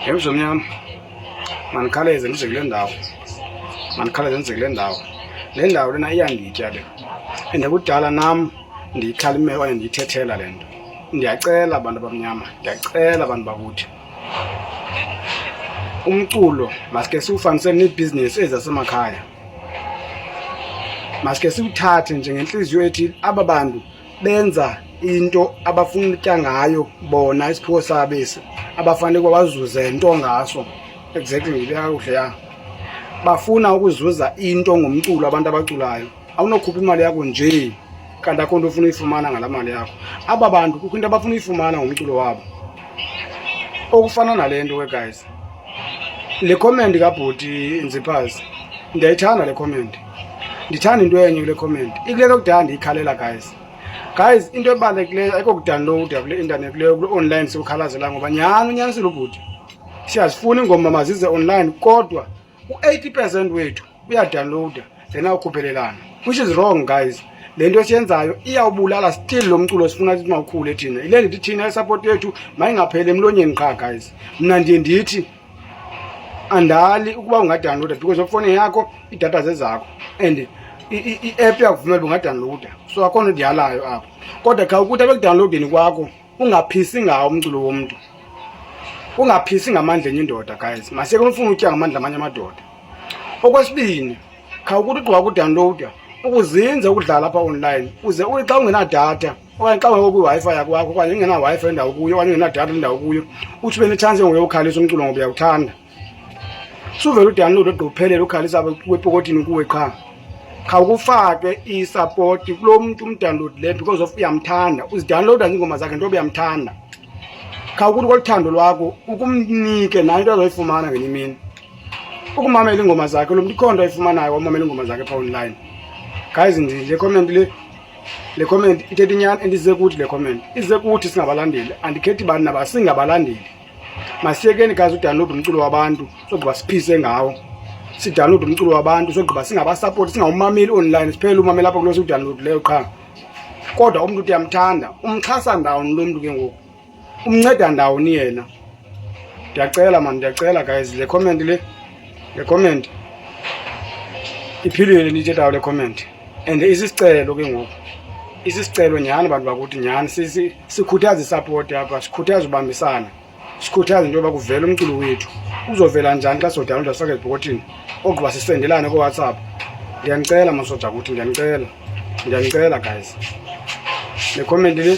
Yemzo mnyama mandikhawuleze ndize kule ndawo mandikhawuleze ndize kule ndawo le ndawo lena iyanditya le and kudala nam ndiyikhalimela okanye ndiyithethela le nto ndiyacela abantu abamnyama ndiyacela abantu bakuthi umculo maske siwufanise neebhizinesi ezi zasemakhaya maske siwuthathe njengentliziyo ethi aba bantu benza into abafuna utya ngayo bona isiphiwo sabo esi abafanele uba bazuze nto ngaso exactly kakuhle ya bafuna ukuzuza into ngomculo abantu abaculayo awunokhupha imali yakho njee kanti akho nto ufuna uyifumana ngalaa mali yakho aba bantu kukho into abafuna uyifumana ngomculo wabo okufana nale nto ke guys le comment kabhuti nziphazi ndiyayithanda le comment ndithanda into enye kule comment ikule nto kudala ndiyikhalela guys guys into ebalulekileyo ayikho kudownloada kule intanethi leyo kule online siwukhalazela ngoba nyhani unyanisile ubhuti siyazifuna iingoma mazize online kodwa u-eighty percent wethu uyadownloada then awukhuphelelana which is wrong guys le nto esiyenzayo iyawubulala still lo mculo sifuna ukuthi mawukhule thina yile ndithi thina isapoti yethu mayingapheli emlonyeni qha guys mna ndiye ndithi andali ukuba ungadownloada because ofone yakho iidata zezakho and i-app yakuvumela uba ungadownloada so akho nto ndiyalayo apho kodwa kha ukuthi abekudownloadeni kwakho ungaphisi ngawo umculo womntu ungaphisi ngamandla enye indoda guys maseke umfuna utya ngamandla amanye amadoda okwesibini kha ukuthi ugqiba kudownloada ukuzinza ukudlala apha online uze uthi xa ungenadatha okanye xa ungekho kwiWi-Fi yakwakho okanye ingena-Wi-Fi endawo kuyo okanye ingenadatha endawo kuyo uthi ube netshansi ngokuye ukhalisa umculo ngoba uyawuthanda suvele udownload ogqophelele ukhalisa wepokothini kuwe qha khawukufake isapoti kulo mntu umdownload le because of uyamthanda uzidownloada ziingoma zakhe ntoba uyamthanda khawukuthi koluthando lwakho ukumnike nayo into azoyifumana ngenye imini ukumamela iingoma zakhe lo mntu ikhonto ayifumanayo wamamela iingoma zakhe pha online guys ndile comment le le comment ithetha inyani endize kuthi le comment ize kuthi singabalandeli andikhethi bani naba singabalandeli masiyekeni kazi udownload umculo wabantu sogqiba siphise ngawo sidownload umculo wabantu sogqiba singabasapoti singawumameli online siphele umameli apha kulo siwudownload leyo qha kodwa umntu uthi yamthanda umxhasa ndawoni lo mntu ke ngoku umnceda ndawoni yena ndiyacela mani ndiyacela guys le comment le le comment iphilile ndiyithethayo le comment and isisicelo ke ngoku isisicelo nyhani bantu bakuthi nyhani sikhuthaza isapoti apha sikhuthaza ubambisana sikhuthaza into yoba kuvela umculo wethu uzovela njani xa sodawunloda sifake ezibhokotini ogqiba sisendelane kowhatsapp ndiyanicela masoja kuthi ndiyanicela ndiyanicela guys le comment le